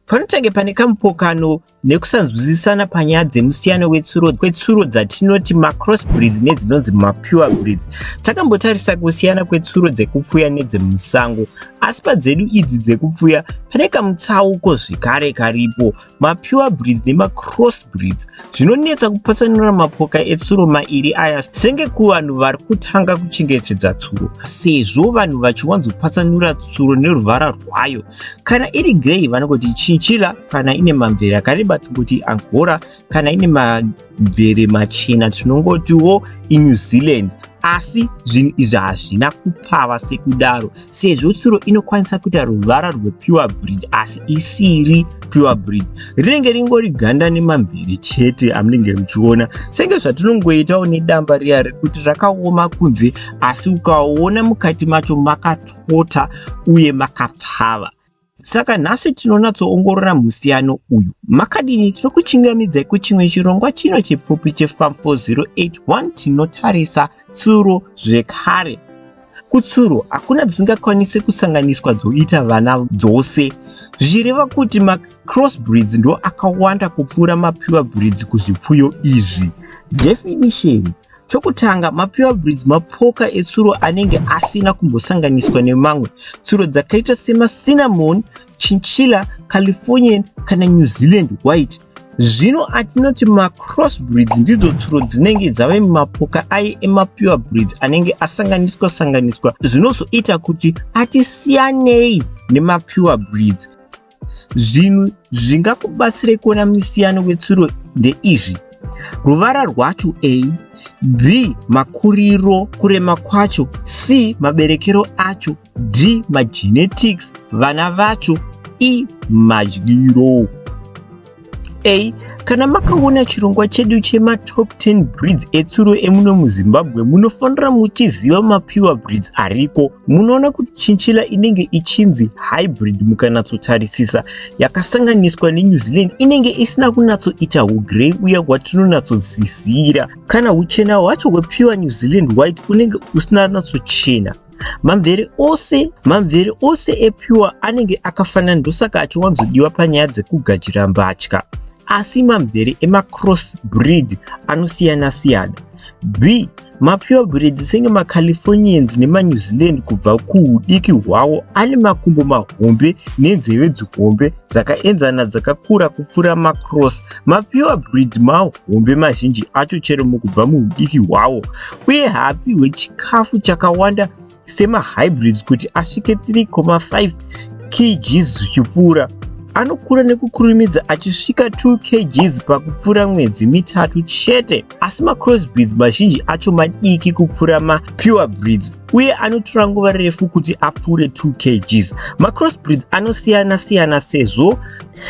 Panotenge pane kamupokano nekusanzwisisana panyaya dzemusiyano wetsuro kwetsuro dzatinoti macross breeds nedzinonzi mapure breeds. Takambotarisa kusiyana kwetsuro dzekupfuya nedzemusango, asi padzedu idzi dzekupfuya pane kamutsauko zvekare karipo. Mapure breeds nemacross breeds zvinonetsa kupatsanura mapoka etsuro mairi aya senge kuvanhu vari kutanga kuchengetedza tsuro, sezvo vanhu vachiwanzopatsanura tsuro neruvara rwayo. Kana iri grey vanongoti chinchilla kana ine mamvere akareba tinongoti angora kana ine mamvere machena tinongotiwo inew zealand asi zvinhu izvi hazvina kupfava sekudaro sezvo tsuro inokwanisa kuita ruvara rwepure breed asi isiri pure breed rinenge ringori ganda nemamvere chete amunenge muchiona senge zvatinongoitawo nedamba riya rekuti rakaoma kunze asi ukaona mukati macho makato makapota uye makapfava. Saka nhasi tinonatsoongorora musiyano uyu. Makadini tinokuchingamidzai kuchimwe chirongwa chino chipfupi cheFarm 4081 tinotarisa tsuro zvekare. Kutsuro hakuna dzisingakwanisi kusanganiswa dzoita vana dzose zvichireva kuti macrossbreeds ndo akawanda kupfuura mapure breeds kuzvipfuyo izvi. Definition Chokutanga, mapure breeds mapoka etsuro anenge asina kumbosanganiswa nemamwe tsuro dzakaita semacinnamon, chinchilla, Californian kana New Zealand white. Zvino atinoti macross breeds ndidzo tsuro dzinenge dzave mumapoka aye emapure breeds anenge asanganiswa sanganiswa zvinozoita kuti atisiyanei nemapure breeds. Zvinhu zvingakubatsirei kuona misiyano wetsuro ndeizvi. Ruvara rwacho A, B, makuriro, kurema kwacho, C, maberekero acho, D, magenetics, vana vacho, E, madyiro. A. Kana makaona chirongwa chedu chema top 10 breeds etsuro emuno muZimbabwe munofanira muchiziva mapiwa breeds ariko. Munoona kuti chinchilla inenge ichinzi hybrid mukanatsotarisisa yakasanganiswa neNew Zealand inenge isina kunatsoita hugrey uya hwatinonatsoziziira. Kana huchena hwacho hwepiwa New Zealand white unenge usina natsochena. mamvere ose mamvere ose epure anenge akafanana ndosaka achiwanzodiwa panyaya dzekugadzira mbatya asi mamvere emacross breed anosiyana siyana b mapure breed senge macalifornians nemanew zealand kubva kuudiki hwawo ane makumbo mahombe nenzeve dzihombe dzakaenzana dzakakura kupfuura macross Mapure breed mahombe mazhinji acho chero mukubva muudiki hwawo uye haapihwe chikafu chakawanda semahybrids kuti asvike 3,5 kgs zvichipfuura. Anokura nekukurumidza achisvika 2 kgs pakupfuura mwedzi mitatu chete. Asi macrossbreeds mazhinji acho madiki kupfuura mapure breeds uye anotora nguva refu kuti apfuure 2 kgs. Macrossbreeds anosiyana siyana sezvo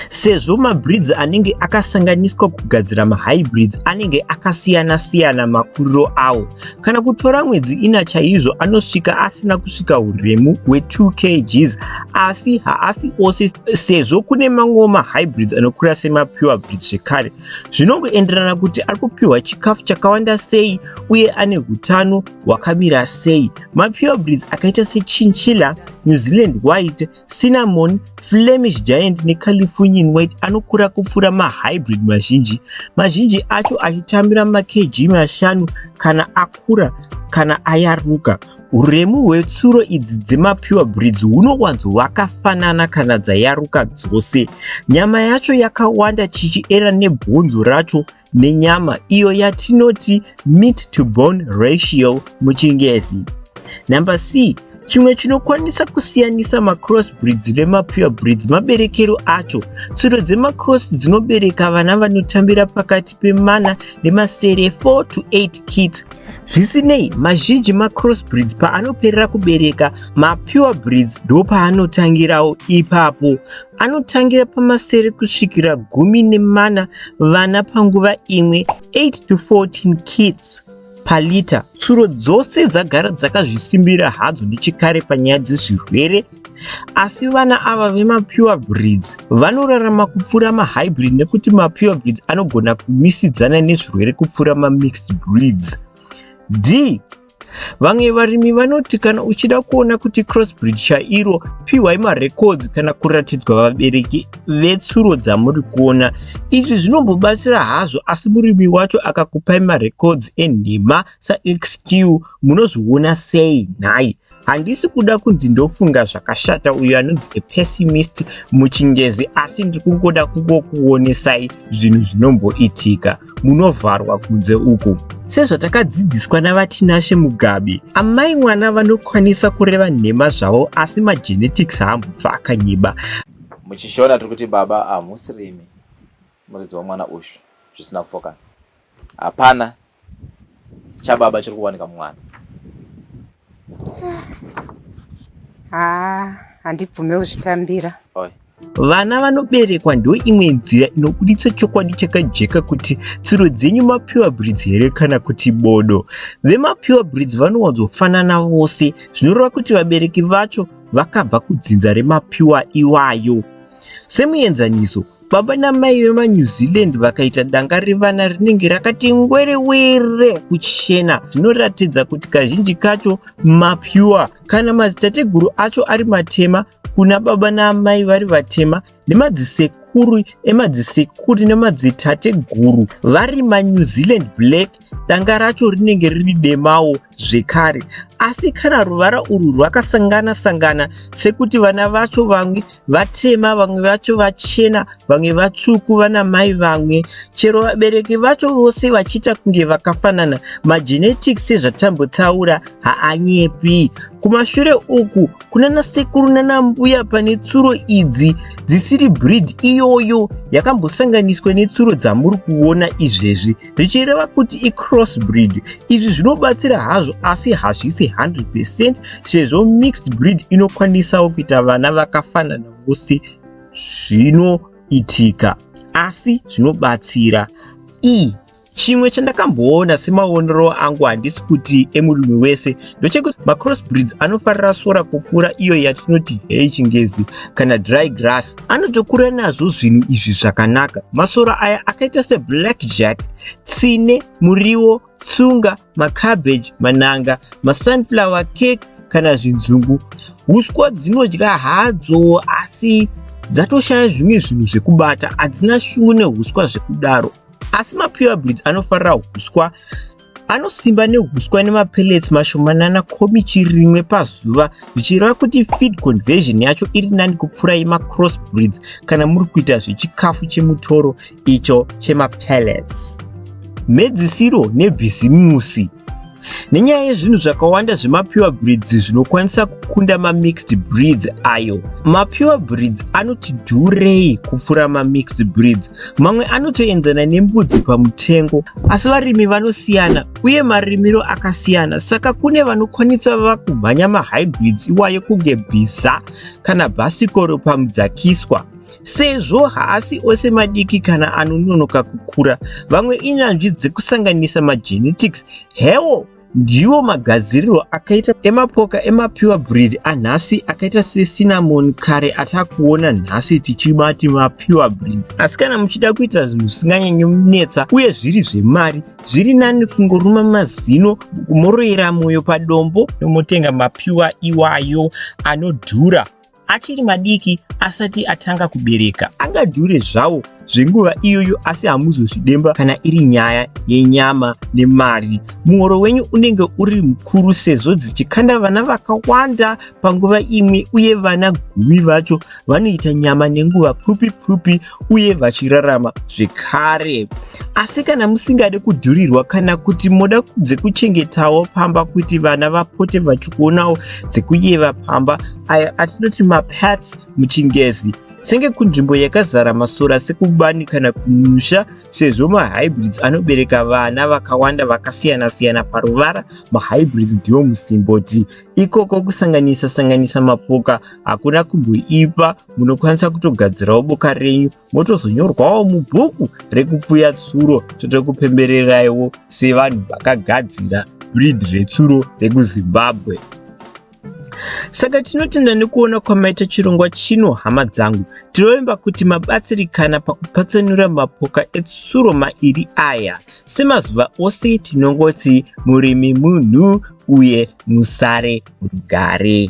Sezvo mabreeds anenge akasanganiswa kugadzira mahybrids anenge akasiyana-siyana makuriro awo, kana kutora mwedzi ina chaizvo anosvika asina kusvika uremu hwe2 kgs asi haasi ose sezvo kune mamwewo mahybrids anokura semapure breeds zvekare. Zvinongoenderana kuti ari kupiwa chikafu chakawanda sei uye ane utano hwakamira sei. Mapure breeds akaita sechinchilla, New Zealand White, Cinnamon, Flemish Giant neCalifornian White anokura kupfuura mahybrid mazhinji, mazhinji acho achitambira makg mashanu kana akura kana ayaruka. Uremu hwetsuro idzi dzemapure breeds hunowanzo hwakafanana kana dzayaruka dzose. Nyama yacho yakawanda chichiera nebhonzo racho nenyama iyo yatinoti meat to bone ratio muchingezi. Number C, chimwe chinokwanisa kusiyanisa macross breeds nemapure breeds maberekero acho. Tsuro dzemacross dzinobereka vana vanotambira pakati pemana nemasere 4 to 8 kits. Zvisinei, mazhinji macross breeds paanoperera kubereka, mapure breeds ndopaanotangirawo ipapo. Anotangira pamasere kusvikira gumi nemana vana panguva imwe 8 to 14 kids palita. Tsuro dzose dzagara dzakazvisimbira hadzo nechekare panyaya dzezvirwere asi vana ava vemapure breeds vanorarama kupfuura mahybrid nekuti mapure breeds anogona kumisidzana nezvirwere kupfuura mamixed breeds d Vamwe varimi vanoti kana uchida kuona kuti crossbreed chairo, pihwai marecords kana kuratidzwa vabereki vetsuro dzamuri kuona. Izvi zvinombobatsira hazvo asi murimi wacho akakupai marecords enhema saXQ munozviona sei nhai? handisi kuda kunzi ndofunga zvakashata uyo anonzi a pessimist muchingezi asi ndiri kungoda kungokuonesai zvinhu zvinomboitika munovharwa kunze uku. Sezvatakadzidziswa naVaTinashe Mugabe, amai mwana vanokwanisa kureva nhema zvavo asi magenetics haambobva akanyiba. Muchishona tiri kuti baba hamusi rimi muridzi wamwana uyu zvisina kupokana. Hapana chababa chiri kuwanika mumwana. haa handibvume kuzvitambira vana vanoberekwa ndo imwe nzira inobuditsa chokwadi chakajeka kuti tsiro dzenyu mapiwa brids here kana kuti bodo vemapiwa brids vanowanzofanana vose zvinoreva kuti vabereki vacho vakabva kudzinza remapiwa iwayo semuenzaniso Baba namai vemaNew Zealand vakaita danga revana rinenge rakati ngwerewere kuchena zvinoratidza kuti kazhinji kacho mapyuwa kana madzitateguru acho ari matema kuna baba naamai vari vatema nemadzisekuru emadzisekuri nemadzitateguru vari manew zealand black danga racho rinenge riri demawo zvekare asi kana ruvara urwu rwakasangana sangana sekuti vana vacho vamwe vatema vamwe vacho vachena vamwe vatsvuku vana mai vamwe chero vabereki vacho vose vachiita kunge vakafanana magenetics sezvatambotaura haanyepi kumashure uku kunana sekuru nana mbuya pane tsuro idzi dzisiri breed iyoyo yakambosanganiswa netsuro dzamuri kuona izvezvi zvichireva kuti icrossbreed izvi zvinobatsira hazvo asi hazvisi 100 percent sezvo mixed breed inokwanisawo kuita vana vakafanana vose zvinoitika asi zvinobatsira e chimwe chandakamboona semaonero angu handisi kuti emurume wese ndochekuti macrossbreeds anofarira sora kupfuura iyo yatinoti hei chingezi kana dry grass anotokura nazvo zvinhu izvi zvakanaka masora aya akaita seblack jack tsine muriwo tsunga macabbage mananga masunflower cake kana zvinzungu uswa dzinodya hadzo asi dzatoshaya zvimwe zvinhu zvekubata hadzina shungu neuswa zvekudaro asi mapure breeds anofarira uswa anosimba nehuswa nemapellets mashomanana komichi rimwe pazuva zvichireva kuti feed conversion yacho iri nani kupfuura yemacross breeds kana muri kuita zvechikafu chemutoro icho chemapellets mhedzisiro nebhizimusi nenyaya yezvinhu zvakawanda zvemapure breeds zvinokwanisa kukunda mamixed breeds ayo mapure breeds anoti dhurei kupfuura mamixed breeds mamwe anotoenzana nembudzi pamutengo asi varimi vanosiyana uye marimiro akasiyana saka kune vanokwanisa vava kumhanya mahybrids iwayo kunge bhiza kana bhasikoro pamudzakiswa sezvo haasi ose madiki kana anononoka kukura vamwe inyanzvi dzekusanganisa magenetics hewo Ndiwo magadziriro akaita emapoka emapiwa breed anhasi akaita sesinamoni kare atakuona nhasi tichimati mapiwa breed. Asi kana muchida kuita zvinhu zvisinganyanyi munetsa uye zviri zvemari, zviri nani kungoruma mazino moroyera moyo padombo motenga mapiwa iwayo anodhura. achiri madiki asati atanga kubereka angadhure zvawo zvenguva iyoyo asi hamuzozvidemba kana iri nyaya yenyama nemari muhoro wenyu unenge uri mukuru sezvo dzichikanda vana vakawanda panguva imwe uye vana gumi vacho vanoita nyama nenguva pfupi pfupi uye vachirarama zvekare. Asi kana musingade kudhurirwa kana kuti moda dzekuchengetawo pamba kuti vana vapote vachikuonawo dzekuyeva pamba ayo atinoti mapats muchingezi senge kunzvimbo yakazara masora sekubani kana kumusha sezvo mahybrids anobereka vana vakawanda vakasiyana-siyana paruvara mahybrids ndiwo musimboti ikoko kusanganisa sanganisa mapoka hakuna kumboipa munokwanisa kutogadzirawo boka renyu motozonyorwawo mubhuku rekupfuya tsuro totokupembereraiwo sevanhu vakagadzira brid retsuro rekuzimbabwe saka tinotenda nekuona kwamaita chirongwa chino hama dzangu tinovimba kuti mabatsirikana pakupatsanura mapoka etsuro mairi aya semazuva ose tinongoti murimi munhu uye musare rugare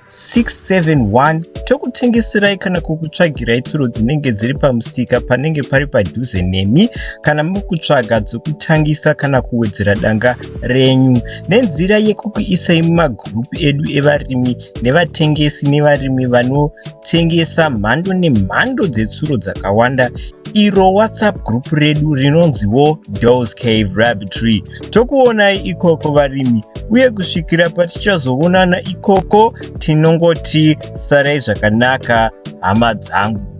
671 tokutengeserai kana kukutsvagirai tsuro dzinenge dziri pamusika panenge pari padhuze nemi kana mukutsvaga dzokutangisa kana kuwedzera danga renyu nenzira yekukuisai mumagurupu edu evarimi nevatengesi nevarimi vanotengesa mhando nemhando dzetsuro dzakawanda iro whatsapp group redu rinonziwo dos cave rabbitry Tokuonai ikoko varimi uye kusvikira patichazoonana ikoko tinongoti sarai zvakanaka hama dzangu.